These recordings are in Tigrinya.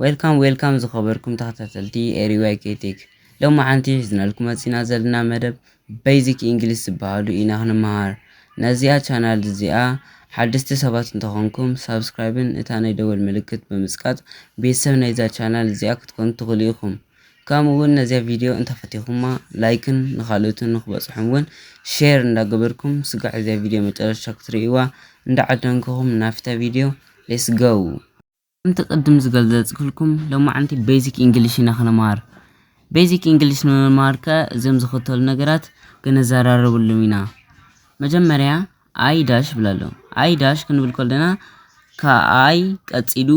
ዌልካም ዌልካም ዝኸበርኩም ተኸታተልቲ ኤሪዋይ ኬቴክ ሎሚ ሓንቲ ሒዝናልኩም መፂና ዘለና መደብ ቤዚክ እንግሊዝ ዝበሃሉ ኢና ክንመሃር ነዚኣ ቻናል እዚኣ ሓደስቲ ሰባት እንተኾንኩም ሳብስክራይብን እታ ናይ ደወል ምልክት ብምፅቃጥ ቤተሰብ ናይዛ ቻናል እዚኣ ክትኮኑ ትኽእሉ ኢኹም ከምኡ ውን ነዚኣ ቪድዮ እንተፈቲኹማ ላይክን ንኻልኦትን ንኽበጽሑም ውን ሼር እንዳገበርኩም ስጋዕ እዚኣ ቪድዮ መጨረሻ ክትርእይዋ እንዳዓደንኩኹም ናፍታ ቪድዮ ሌስ ጎው። ከምቲ ቅድም ዝገልዘጽክልኩም ሎማዓንቲ ቤዚክ ኢንግሊሽ ኢና ክንማሃር ቤዚክ ኢንግሊሽ ንምማሃር ከኣ እዞም ዝኽተሉ ነገራት ክንዘራረብሉም ኢና መጀመርያ ኣይ ዳሽ ብላሎ ኣይ ዳሽ ክንብል ከለና ከኣይ ቀጺሉ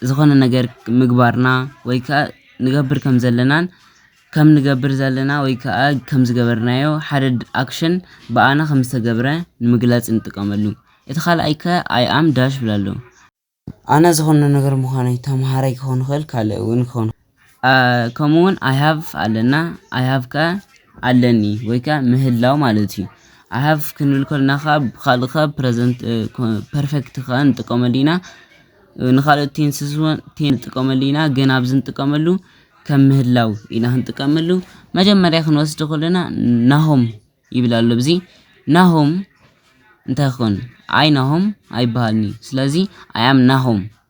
ዝኾነ ነገር ምግባርና ወይ ክዓ ንገብር ከም ዘለናን ከም ንገብር ዘለና ወይ ክዓ ከም ዝገበርናዮ ሓደ ኣክሽን ብኣና ከም ዝተገብረ ንምግላፅ ንጥቀመሉ። እቲ ካልኣይ ከ ኣይ ኣም ዳሽ እብለሉ። ኣነ ዝኾነ ነገር ምዃነይ ተምሃራይ ክኾን ይኽእል ካልእ እውን ክኾን ይኽእል። ከምኡ ውን ኣይ ሃቭ ኣለና ኣይ ሃቭ ከኣ ኣለኒ ወይ ከኣ ምህላው ማለት እዩ። ኣይ ሃቭ ክንብል ከሎና ከኣ ብኻልእ ከኣ ፕረዘንት ፐርፌክት ከኣ ንጥቀመሉ ኢና ንኻልኦት ቴንስስ ውን ቴን ንጥቀመሉ ኢና ግን ኣብዚ ንጥቀመሉ ከም ምህላው ኢና ክንጥቀመሉ መጀመርያ ክንወስዶ ከሎና ናሆም ይብል ኣሎ ብዚ ናሆም እንታይ ክኸውን ኣይ ናሆም ኣይበሃልን'ዩ ስለዚ ኣይ ኣም ናሆም።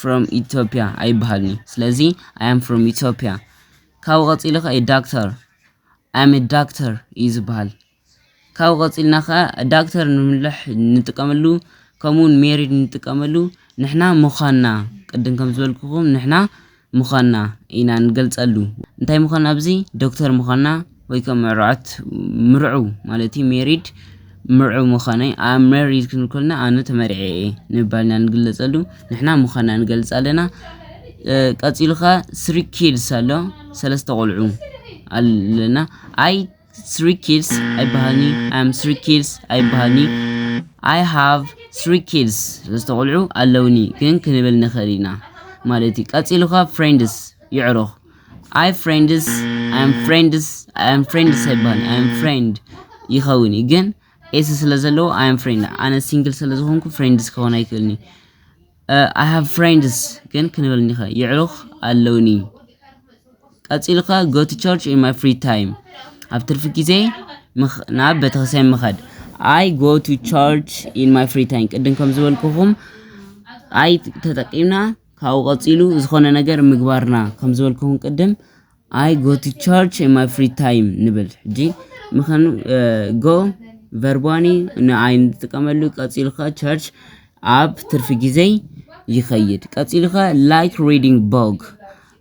from Ethiopia ኣይበሃልን እዩ ስለዚ I am from Ethiopia ካብኡ ቀፂሉ ከ ዳክተር I am a doctor እዩ ዝበሃል ካብኡ ቀፂልና ከ ዳክተር ንምልሕ ንጥቀመሉ ከምኡውን ሜሪድ ንጥቀመሉ ንሕና ምዃንና ቅድም ከም ዝበልኩኹም ንሕና ምዃንና ኢና ንገልፀሉ እንታይ ምዃንና ኣብዚ ዶክተር ምዃንና ወይ ከም ምዕሩዓት ምርዑ ማለት እዩ ሜሪድ ምርዑ ምዃነይ ኣብ መሪድ ክንብል ከለና ኣነ ተመርዐ እየ ንባል ኢና ንግለጸሉ ንሕና ምዃና ንገልጽ ኣለና ቀጺሉ ከ ስሪ ኪድስ ኣሎ ሰለስተ ቆልዑ ኣለና ኣይ ስሪ ኪድስ ኣይበሃልኒ ኣም ስሪ ኪድስ ኣይበሃልኒ ኣይ ሃቭ ስሪ ኪድስ ሰለስተ ቆልዑ ኣለውኒ ግን ክንብል ንኽእል ኢና ማለት እዩ ቀጺሉ ከ ፍሬንድስ ይዕሩኽ ኣይ ፍሬንድስ ኣም ፍሬንድስ ኣም ፍሬንድስ ኣይባል ኣም ፍሬንድ ይኸውን እዩ ግን ኤስ ስለ ዘለዎ ኣም ፍሬንድ ኣነ ሲንግል ስለ ዝኾንኩ ፍሬንድስ ክኸውን ኣይክእልኒ ኣይ ሃቭ ፍሬንድስ ግን ክንብል ኒኸ ይዕሩኽ ኣለውኒ ቀፂሉ ከ ጎ ቱ ቸርች ኢን ማይ ፍሪ ታይም ኣብ ትርፊ ግዜ ምኽ- ናብ ቤተክርስትያን ምኸድ ኣይ ጎ ቱ ቸርች ኢን ማይ ፍሪ ታይም ቅድም ከም ዝበልኩኹም ኣይ ተጠቂምና ካብኡ ቀጺሉ ዝኾነ ነገር ምግባርና ከም ዝበልኩኹም ቅድም ኣይ ጎ ቱ ቸርች ኢን ማይ ፍሪ ታይም ንብል ሕጂ ምኸኑ ጎ ቨርቧኒ ንኣይ ንጥቀመሉ ቀጺሉ ከ ቸርች ኣብ ትርፊ ግዜይ ይኸይድ ቀጺሉ ከ ላይክ ሪዲንግ ቦግ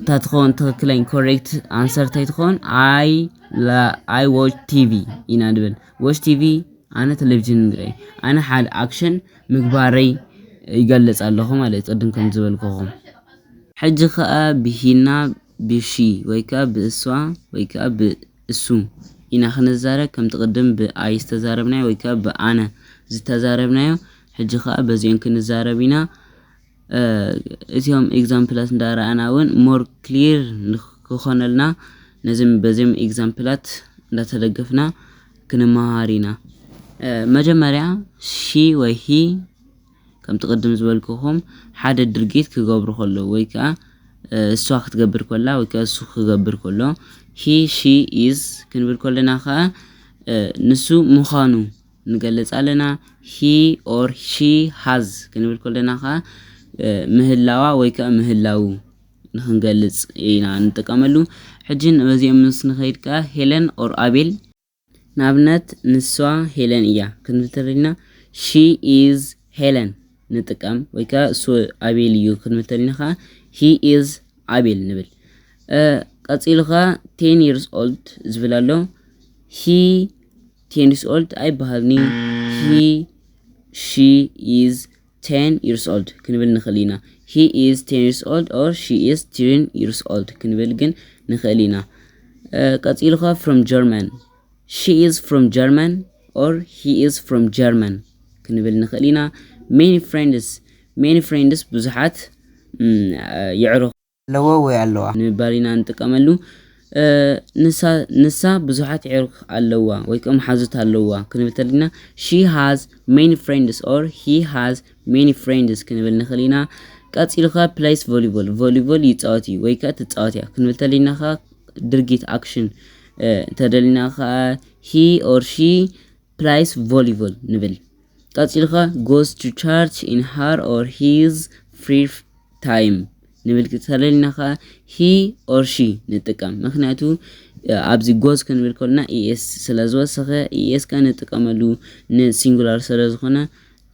እታ ትኸውን ትክክለኝ ኮሬክት ኣንሰር እንታይ ትኸውን ኣይ ኣይ ዎች ቲቪ ኢና ንብል ዎች ቲቪ ኣነ ቴሌቪዥን ንርኢ ኣነ ሓደ ኣክሽን ምግባረይ ይገልጽ ኣለኹ ማለት ቅድም ከም ዝበልኩኹም ሕጂ ከዓ ብሂና ብሺ ወይ ከዓ ብእሷ ወይ ከዓ ብእሱ ኢና ክንዛረብ ከምቲ ቅድም ብኣይ ዝተዛረብናዮ ወይ ከዓ ብኣነ ዝተዛረብናዮ ሕጂ ከዓ በዚኦን ክንዛረብ ኢና እዚኦም ኤግዛምፕላት እንዳረኣና እውን ሞር ክሊር ንክኾነልና ነዚም በዚም ኤግዛምፕላት እንዳተደገፍና ክንመሃር ኢና። መጀመርያ ሺ ወይ ሂ ከምቲ ቅድም ዝበልኩኹም ሓደ ድርጊት ክገብሩ ከሎ ወይ ከዓ እሷ ክትገብር ኮላ ወይ ከዓ እሱ ክገብር ከሎ ሂ ሺ ኢዝ ክንብል ከለና ከዓ ንሱ ምዃኑ ንገልጽ ኣለና፣ he or she has ክንብል ከሎና ከኣ ምህላዋ ወይ ከኣ ምህላዉ ንኽንገልጽ ኢና ንጥቀመሉ። ሕጂ ንበዚኦም ምስ ንኸይድ ከኣ ሄለን or ኣቤል። ንኣብነት ንሷ ሄለን እያ ክንብል ተደሊና she is Helen ንጥቀም ወይ ከኣ እሱ ኣቤል እዩ ክንብል ተደሊና ከኣ he is ኣቤል ንብል። ቀጺሉ ከኣ ten years old ዝብል ኣሎ he ቴንስ ኦልድ ኣይበሃልን'ዩ ሂ ሺ ኢዝ ቴን ይርስ ኦልድ ክንብል ንኽእል ኢና። ሂ ኢዝ ቴን ይርስ ኦልድ ኦር ሺ ኢዝ ቲሪን ይርስ ኦልድ ክንብል ግን ንኽእል ኢና። ቀጺሉ ከ ፍሮም ጀርመን ሺ ኢዝ ፍሮም ጀርመን ኦር ሂ ኢዝ ፍሮም ጀርመን ክንብል ንኽእል ኢና። ሜኒ ፍሬንድስ ሜኒ ፍሬንድስ ብዙሓት የዕሩኽ ኣለዎ ወይ ኣለዋ። ንምባል ኢና ንጥቀመሉ። ንሳ፣ ንሳ፣ ብዙሓት ኣዕሩኽ ኣለዋ ወይከ መሓዙት ኣለዋ ክንብል ተደሊና She has many friends or He has many friends ክንብል ንኽእል ኢና። ቀጺሉ ከ plays volleyball፣ ቮሊቦል ይጻወት እዩ ወይከ ትጻወት እያ ክንብል ተደሊና ከ ድርጊት ኣክሽን ተደሊና ከ He or She plays volleyball ንብል። ቀጺልካ goes to church in her or his free time ንብል ተለልና ከኣ he or she ንጥቀም ምክንያቱ ኣብዚ ጎዝ ክንብል ከሎና ኢኤስ ስለ ዝወሰኸ ኢኤስ ከ ንጥቀመሉ ንሲንጉላር ስለ ዝኾነ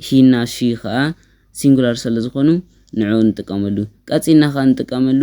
ሂና ሺ ከኣ ሲንጉላር ስለ ዝኾኑ ንዕኡ ንጥቀመሉ ቀጺልና ከኣ ንጥቀመሉ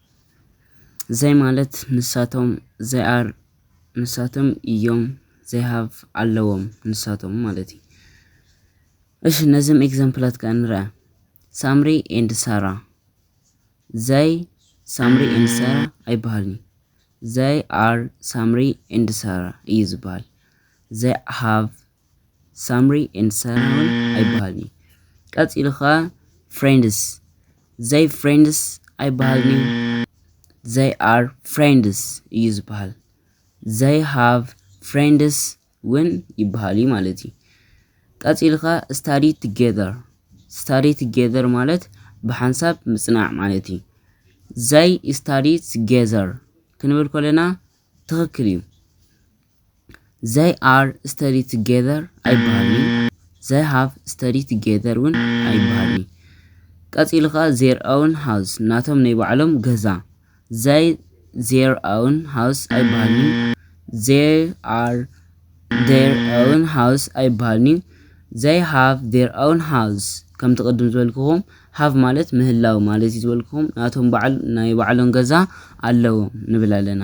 ዘይ ማለት ንሳቶም ዘይ ኣር ንሳቶም እዮም ዘይ ሃቭ ኣለዎም ንሳቶም ማለት እዩ። እሺ ነዚም ኤግዛምፕላት ከ ንርኣ ሳምሪ ኤንድ ሳራ ዘይ ሳምሪ ኤንድ ሳራ ኣይበሃልኒ ዘይ ኣር ሳምሪ ኤንድ ሳራ እዩ ዝበሃል። ዘይ ሃቭ ሳምሪ ኤንድ ሳሮን ኣይበሃልን እዩ ቀጺሉ ከኣ ፍሬንድስ ዘይ ፍሬንድስ ኣይበሃልን እዩ ዘይ ኣር ፍሬንድስ እዩ ዝበሃል ዘይ ሃቭ ፍሬንድስ ውን ይበሃል እዩ ማለት እዩ ቀጺሉ ከኣ ስታዲ ቱጌዘር ስታዲ ቱጌዘር ማለት ብሓንሳብ ምጽናዕ ማለት እዩ ዘይ ስታዲ ቱጌዘር ክንብል ከለና ትኽክል እዩ ዘይ ኣር ስተዲ ቱጌዘር ኣይበሃልንዩ ዘይ ሃቭ ስተዲ ቱጌዘር እውን ኣይበሃልንዩ ቀፂሉ ከዓ ዜር ኣውን ሃውስ ናቶም ናይ ባዕሎም ገዛ ዘይ ዜር ኣውን ሃውስ ኣይበሃልንዩ ዜር ኣር ዜር ኣውን ሃውስ ኣይበሃልንዩ ዘይ ሃቭ ዜር ኣውን ሃውስ ከምቲ ቅድም ዝበልክኹም ሃቭ ማለት ምህላው ማለት እዩ ዝበልክኹም ናቶም በዓል ናይ ባዕሎም ገዛ ኣለዎም ንብል ኣለና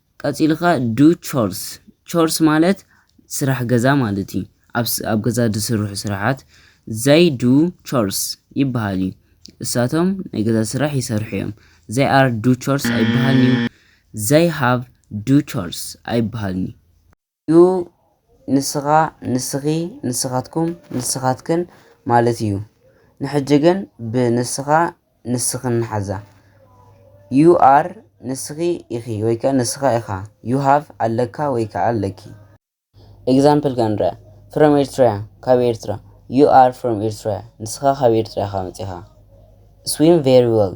ቀጺሉ ከኣ ዱ ቾርስ፣ ቾርስ ማለት ስራሕ ገዛ ማለት እዩ። ኣብ ስ- ኣብ ገዛ ዝስርሑ ስራሓት ዘይ ዱ ቾርስ ይበሃል እዩ። እሳቶም ናይ ገዛ ስራሕ ይሰርሑ እዮም። ዘይ ኣር ዱ ቾርስ ኣይበሃልን እዩ። ዘይ ሃቭ ዱ ቾርስ ኣይበሃልን እዩ። እዩ ንስኻ ንስኺ ንስኻትኩም ንስኻትክን ማለት እዩ ንሕጂ ግን ብ ንስኻ ንስኽን ንሓዛ you are ንስኺ ኢኺ ወይ ከኣ ንስኻ ኢኻ you have ኣለካ ወይ ከኣ ኣለኪ ኤግዛምፕል ክንርኣ from Eritrea ካብ ኤርትራ you are from Eritrea ንስኻ ካብ ኤርትራ ኢኻ መጺኻ swim very well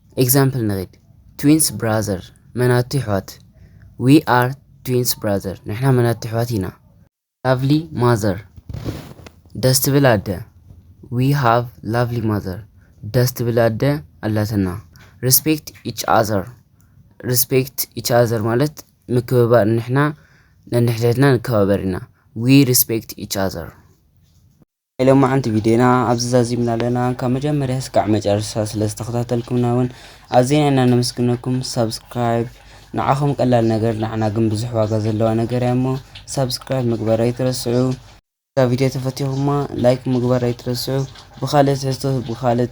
ኤግዛምፕል ንኺድ ትዊንስ ብራዘር መናቱ ይሕዋት ዊ ኣር ትዊንስ ብራዘር ንሕና መናቱ ይሕዋት ኢና ላቭሊ ማዘር ደስ ትብል ኣደ ዊ ሃቭ ላቭሊ ማዘር ደስ ትብል ኣደ ኣላትና ሪስፔክት ኢች ኣዘር ሪስፔክት ኢች ኣዘር ማለት ምክብባር ንሕና ነንሕድሕድና ንከባበር ኢና ዊ ሪስፔክት ኢች ኣዘር ናይ ሎማዓንቲ ቪድዮና ኣብዚ ዛዚምና ኣለና ካብ መጀመርያ ስካዕ መጨረሻ ስለ ዝተኸታተልኩምና እውን ኣዝና ኢና ነመስግነኩም ሳብስክራይብ ንዓኹም ቀላል ነገር ንዓና ግን ብዙሕ ዋጋ ዘለዋ ነገር እያ እሞ ሳብስክራይብ ምግባር ኣይትረስዑ እዛ ቪድዮ ተፈቲኹማ ላይክ ምግባር ኣይትረስዑ ብኻልእ ትሕዝቶ ብኻልእ